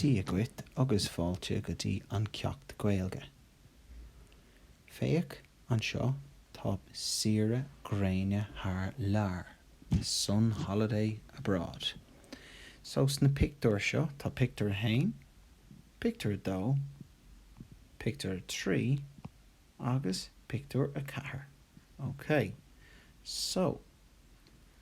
Dia dhuit agus fáilte go dtí an Ceacht Gaeilge. Féach anseo, tá saoire gréine thar lear, the sun holiday abroad. So sna pictiúir seo, tá pictiúr a haon, pictiúr a dó, pictiúr a trí agus pictiúr a ceathair. Okay. So.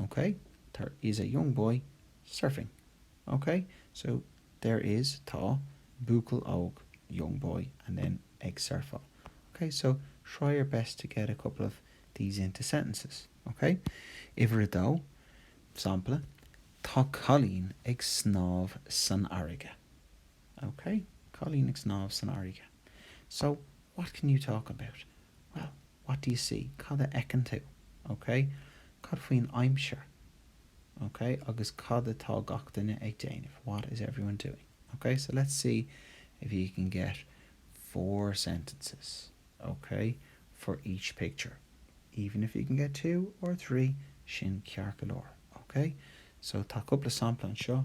OK, tar is a young boy surfing. OK, so there is tá buachaill óg young boy and then ag surfáil. OK, so try your best to get a couple of these into sentences. OK, uimhir a dó, sampla, Tá cailín ag snámh san fharraige. OK, cailín ag snámh san fharraige. So, what can you talk about? Well, what do you see? Cad a fheiceann tú? OK? Cad faoin aimsir? OK? Agus cad atá gach duine ag déanamh? What is everyone doing? OK? So, let's see if you can get four sentences, OK, for each picture. Even if you can get two or three, sin ceart go leor. OK? So, tá cúpla sampla anseo.